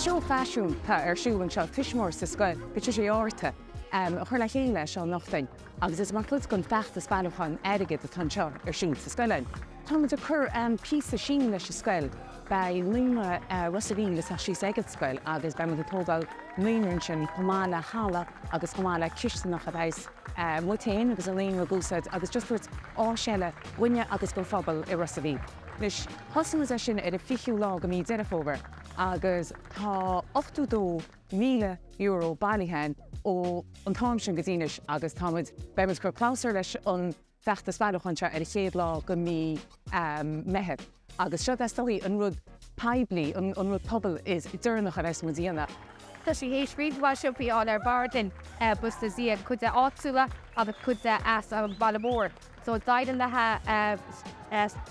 Seó faisin tá ar siúl anseo tuismitheoir sa scoil, Patricia Uí Fhátharta a chuir le chéile seo anocht dúinn agus is mar chuid den feachtas bailiúcháin airgid atá an seo ar siúl sa scoil. Tá muid ag cur píosa síneadh leis an scoil, beidh naíonra Ros a' Mhíl ag tíocht síos ag an scoil agus beidh muid ag tógáil naíonra ansin chomh maith le halla agus chomh maith le cistineach a bheidhs muid féin agus an naíonra ag úsáid agus just ag tabhairt áis eile dhúinne agus don phobal i Ros a' Mhíl. Anois, thosaigh muid é sin ar an 20ú lá de Mhí Deireadh Fómhair agus tá €82,000 bailithe againn ó an t-am sin go dtí anois agus tá muid, beidh muid ag cur clabhsúr leis an bhfeachtas bailiúcháin seo ar an 1ú lá de Mhí Meithimh agus seo is dóichí an rud poiblí, an rud pobail is deireanach a bheas muid a dhéanamh. Tá sí théis roinnt mhaith siopaí a fháil ar bord linn bhus do dhíon, cuid de áitiúla agus cuid de as an bhaile mór. So d'éirigh léithi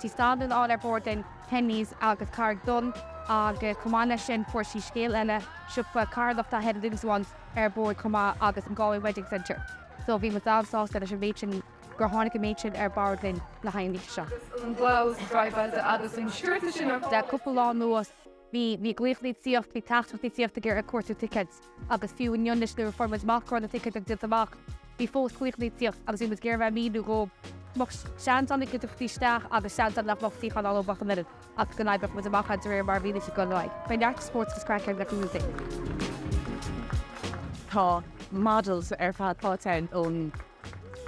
Tigh Standún a fháil ar bord linn, Penneys agus Carraig Donn agus chomh maith leis sin fuair sí scéal eile, siopa carthanachta Head and Limbs Ones ar bord chomh maith agus an Galway Wedding Centre. So bhí muid an-sásta leis an méid sin gur tháinig an méid sin ar bord linn le haghaidh an oíche seo. Agus an blouse, dry blouse, agus an sciorta sin ar fad. Le cúpla lá anuas. Bhí glaochannaí ag tíocht, bhí teachtaireachtaí ag tíocht ag cuartú ticéid agus fiú inniu anois nuair a fuair muid amach go raibh na ticéid díolta amach, bhí fós glaochannaí ag tíocht agus bhí muid ag iarraidh a bheith ag míniú dhóibh go mbeadh seans ann iad a thíocht isteach agus seans ann nach mbeadh suíochán ann dóibh mbeadh an oiread ach go n-oibreodh muid amach é de réir mar a mhínigh siad go mbeidh. Beidh neart spóirt agus craic ar na cúrsaí. Tá models ar fad páirteach ann ón.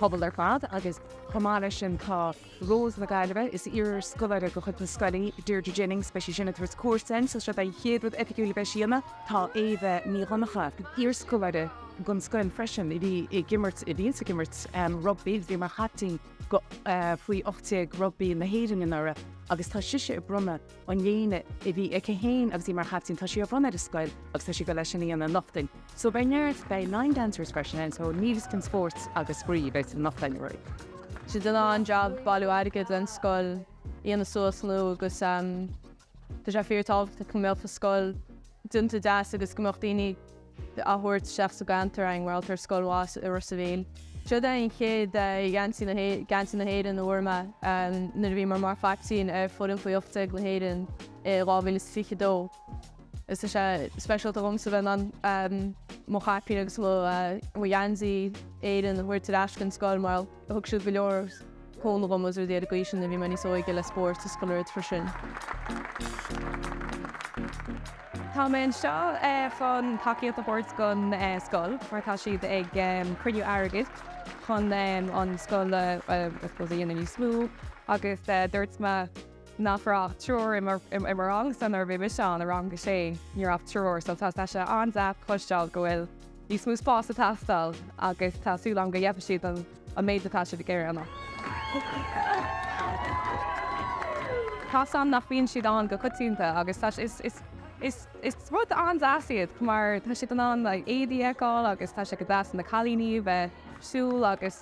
bpobal ar fad agus chomh maith leis sin tá Rós na Gaillimhe, is iarscoláire de chuid na scoile í Deirdre Jennings, beidh sí sin ag tabhairt cuairt orainn so seo an chéad rud oifigiúil a bheas sí a dhéanamh. Tá Éabha Nic Dhonnacha, iarscoláire den scoil freisin, í a bhí ag imirt, í a bhíonns ag imirt rugbaí, bhí mar chaiptín go, faoi ocht déag rugbaí na hÉireann anuraidh agus tá sise ag bronnadh, an léine a bhí aici féin agus í mar chaiptín, tá sí á bhronnadh ar an scoil agus tá sí ag dul é sin a dhéanamh anocht dúinn. So beidh neart, beidh line dancers freisin ann, so níl a fhios cén spóirt agus spraoi a bheas anocht ann really. Siad ag déanamh an-jab ag bailiú airgid leis an scoil a dhéanamh suas nua agus Tá sé fíor tábhachtach go mbeadh an scoil déanta deas agus go mbeadh daoine a thabhairt isteach sa gceantar mar gheall ar scoil mhaith i Ros a' Mhíl. Siod é an chéad gheansaí na hÉireann a fuair mé nuair a bhí mé mar chaiptín ar foireann faoi 18 na hÉireann i 2022. Is tá sé speisialta dhomsa bheith in ann mo chaipín agus mo gheansaí Éireann a thabhairt ar ais den scoil mar. Thug siad go leor cúnamh dhom agus rudaí ar an gcaoi sin nuair a bhí mé níos óige le spóirt agus chuile rud freisin. Tá mé anseo chun tacaíocht a thabhairt don scoil mar tá siad ag cruinniú airgid chun an scoil a dhéanamh níos mó agus dúirt mé nach raibh ach triúr i mo rangsa nuair a bhí mise ann, i rang a sé ní raibh ach triúr so tá sé an-deas cloisteáil go bhfuil níos mó spáis ag teastáil agus tá súil agam go gheibhfidh siad an méid atá siad ag iarraidh an cosán nach mbíonn siad ann go coitianta agus tá sé, is is rud an-deas iad mar tá siad in ann éadaí a fheiceáil agus tá sé go deas do na cailíní a bheith ag siúl agus.